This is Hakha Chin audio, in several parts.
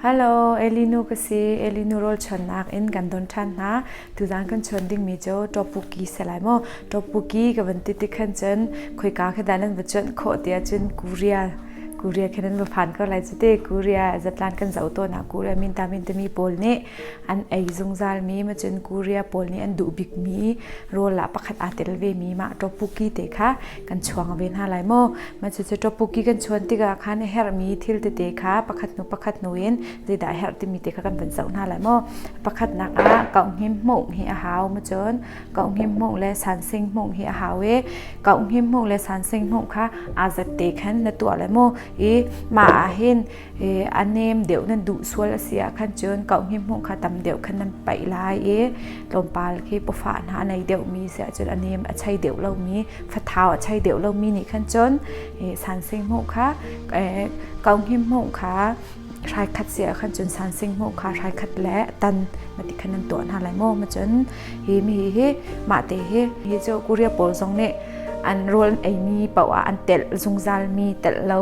Hello, Elinu ka si. Elinu rol chon nak in kan don than hna. Tuzan kan chon ding mi jo topuki se lai mo. Topuki ka van ti ti khan chon khoi ka kha dalan va chon kho tia chon Korea. Korea khanan va phan ko lai chu te Korea zatlan kan zau to na Korea min ta min te mi pol ni an ei zungzal mi macun Korea pawl nih an duh bik mi roll ah pakhat aa tel ve mi mah topuki te kha kan chuang ve hna lai maw macu cu topuki kan chuan tikah khan herh mi thil tete kha pakhat nu pakhat nu in zeidah herh timi te kha kan van zoh hna lai maw pakhat nak ah kau him hmuh hi a hau macun kau him hmuh le sansing hmuh hi a hau i kau him hmuh le sansing hmuh kha aa zat te khan na tuah lai maw i mah ah hin i a nem deuh nan duh sual a si ahkhan cun kauhmi hmuh kha tam deuh khan nan paih lai i tlawmpal khi pawfah hna a nei deuhmi si ahcun a nem a chei deuh lomi fathau a chei deuh lomi nih khan cun sansing hmuh kha kauhmi hmuh kha hraikhat si ahkhan cun sansing hmuh kha hraikhat le tan ma ti khan nan tuah hna lai maw ma cun hi mi hi mahte hi hi cu korea pawl zong nih an rawl eimi paoh ah an telh zungzalmi telh lo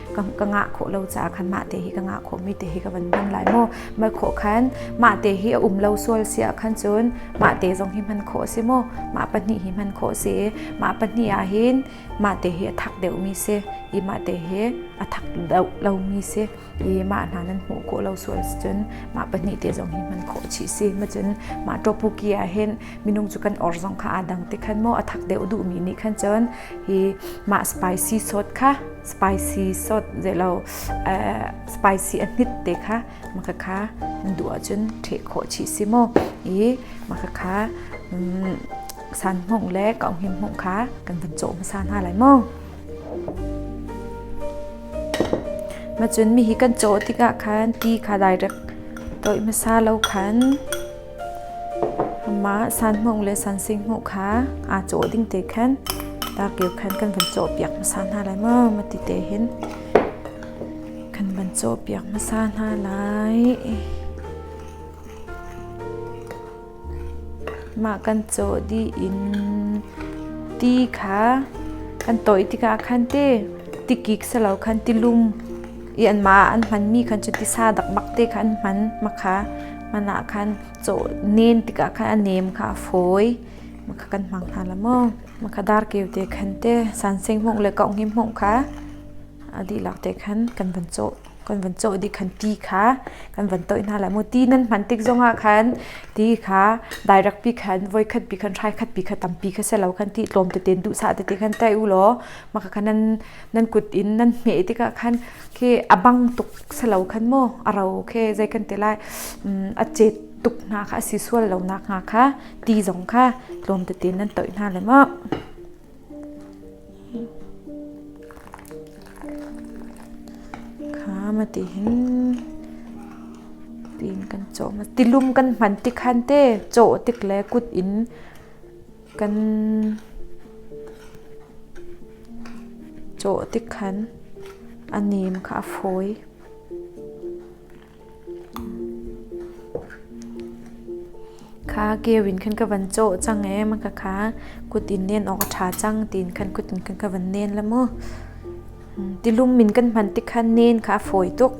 ka, ka ngah khawh lo caah khan mah te hi ka ngah khawhmi te hi ka van hman lai maw mah khawh khan mah te hi a um lo sual si ah khan cun mah te zong hi hman khawh a si maw mah pahnih hi hman khawh a si i mah pahnih ah hin mah te hi a thak deuhmi si i mah te hi a thak deuh lomi si i mah hna nan hmuh khawh lo sual si cun mah pahnih te zong hi hman khawh chih si ma cun mah topuki ah hin minung cu kan or zong kha aa dang te khan maw a thak deuh duhmi nih khan cun hi mah spicy sawt kha spicy sawt zei lo uh, spicy a hnit te kha maka kha du ahcun ṭheh khawh chi si mu i maka kha um, san hmung le kong him hmung kha kan van cawh hmasa hna lai mu macun mi hi kan cawh tikah khan ti kha direct toi hmasa lo khan Mah sanhmung le sansinghmung kha aa cawh ding te khan takir khan kan van cawhpiak hmasa hna lai maw? Mati te hin kan van cawhpiak hmasa hna lai. Mah kan cawh dih in ti kha kan tawih tikah khan ti tikik selo khan tilung i anmah an hmanmi khan cu tisa dakbak te kha an hman. Makha hman ah khan cawh nen tikah khan a nem kha a fawi makha kan hmang hna la maw makha dar keu te khan te sanseng hmong le kau ngim hmong kha adi lak te khan kan van cawh kan van cawh di khan ti kha kan van toi hna la mu ti nan hman tik zongah khan ti kha direct pi khan voi khat pi khan trai khat pi khat tam pi kha se lo khan ti tlom te ten du sa te te khan tai u lo maka khanan nan kut in nan hmeh tikah khan khi a bang tuk salo khan maw a ro khi zei kan ti lai a cet tuk hna kha a si sual lo nak hnga kha ti zong kha tlawm tein nan toih hna le ma khama ti hin tiin kan cawm tilum kan hman ti khan te chaw tik le kut in kan cawh tik khan a nem kha a fawi. kha keu in khan ka van chaw cang e ma ka kha kut in nen awk a tha cang tin khan kut in khan ka van nen la mu tilum min kan hman tikhan nen kha a fawi tuk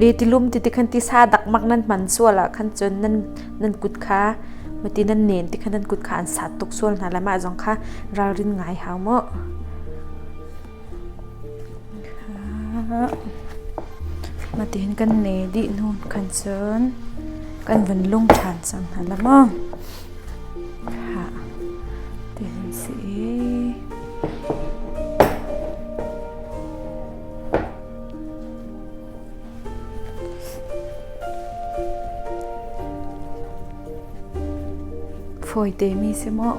le tilum ti tikhan tisa dakmak nan hman sual ahkhan cun nan nan kut kha mati nan nen tikhan nan kut kha an sat tuk sual hna lai mah zong kha ralrin ngai hau mu mati hin kan ne dih hnu khan cun kan van lung ṭhan cang hna la maw ha ti si Fawi temi si maw?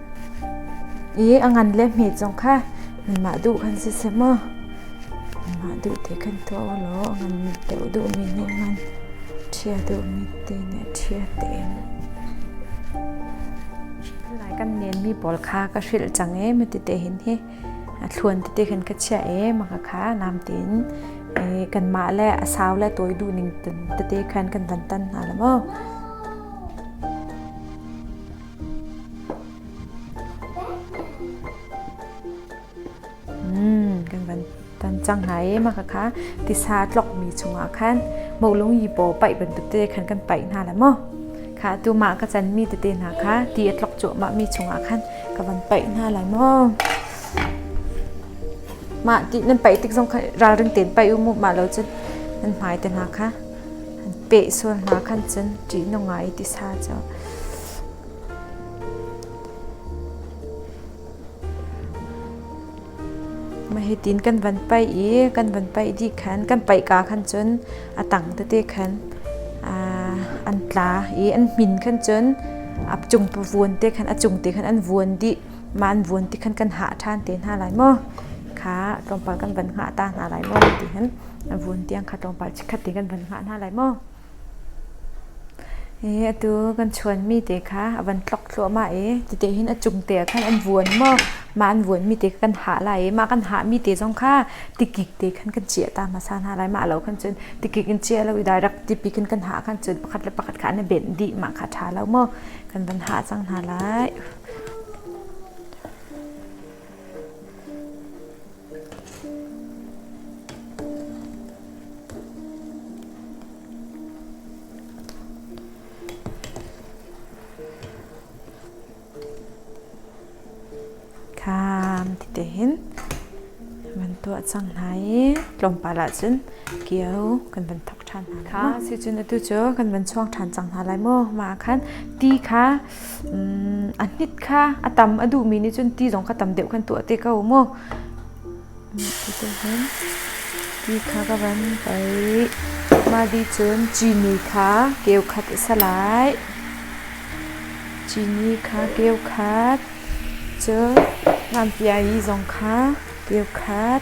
i a ngan le hmi zong kha mah duh kan si seh maw mah duh te kan tuah u law a ngan mit deuh duhmi nih ngan ṭhia duhmi te nih ṭhia tein lai kan nenmi pawl kha ka hrilh cang e mi tete hin hi a thluan tete khan ka chia e maka kha nam tin e kanmah le a sau le toi du ning tete khan kan van tan hna la maw kan van tan cang hna i mah khakha tisa tlokmi chungah khan molung yipaw paih bantuk te khan kan paih hna la maw kha tu mah ka chanmi tete hna kha ti a tlok cuahmah mi chungah khan ka van paih hna lai maw mah ti nan paih tik zong khan ralring ten paih u mu mah lo cun nan hmai te hna kha peh sual hna khan cun ṭihnung ah i tisa cu mah hitin kan van paih i kan van paih dih khan kan paihka khan cun a tang tete khan an tla i an hmin khan cun a cung pa vuan te khan a cung te khan an vuan dih mah an vuan ti khan kan hah ṭhan te hna lai maw kha tlawmpal kan van hngah ta hna lai maw ti hin vun tiang kha tlawmpal chikkhat ti kan van hngah hna lai maw i atu kan chuanmi te kha a van tlok thluahmah i tite hin a cung te ah khan an vuan maw mah an vuanmi te kan hah lai i mah kan hahmi te zong kha tikik te khan kan ciah ta hmasa hna lai mah lo khan cun tikik in ciah lo i direct tipi khin kan hah khan cun pakhat le pakhat kha an benh dih mah kha ṭha lo maw kan van hah cang hna lai kham ti te hin van tuah cang hna i tlawmpal ah cun kio kan van thok ṭhan hna kha si cun atu cu kan van chuang ṭhan cang hna lai maw mah ah khan ti kha a hnit kha a tam a duhmi nih cun ti zong kha tam deuh kan tuah te ko mu. Ti kha ka van pei. Mah di cun cini kha keukhat a si lai. Cini kha keukhat. Cun nganpiai zong kha keukhat.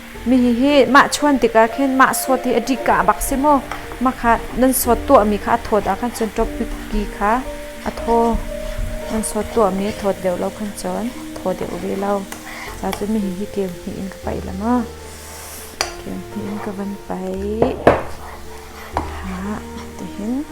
Mihihi mah chuan tikah khin mah sawt hi a ṭih kaa a bak si maw? Mah kha nan sawt tuahmi kha a thawt ah khan cun ṭopiki kha a thaw. Nan sawt tuahmi a thawt deuh lo khan cun thaw deuh ve lo. Cucun mihihi keu hnih in ka paih la maw? Keu hnih in ka van paih. Ha, tihin.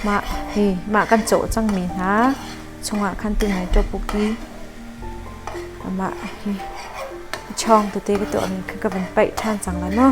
Mah hi mah kan cawh cangmi hna chungah khan ti nai tuah puk i amah hi a ṭhawng tete ka tuahmi kha ka van paih ṭhan cang lai maw?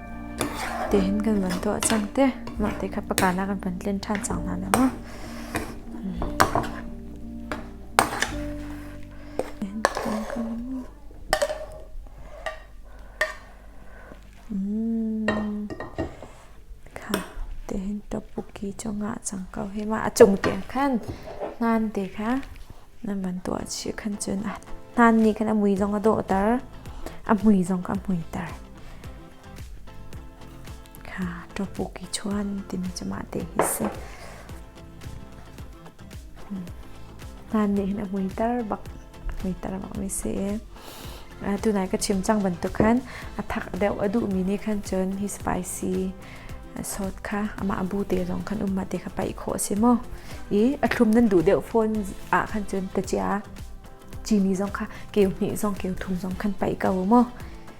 tihin kan van tuah cang te. Mah ti kha paka nak an van tlin ṭhan cang hna le maw. tihin topuki cu ngah cang ko hi ma a cung tiang khan ngan te kha nan van tuah chih khan cun a hnan nih khan a mui zong a dawhter a mui zong kha a muiter kha tawpuk i chuan timi cu mah te hi si nan nih hin a muitar bak muitar bak mi si tunai ka chim cang bantuk khan a thak deuh a duh mi ni khan cun hi spicy sawt kha ama abu te zong khan umma te kha pai kho si mo i a thlum nan duh deuh phone a khan cun ta chia chini zong kha keu hni zong keu thum zong khan pai ka mo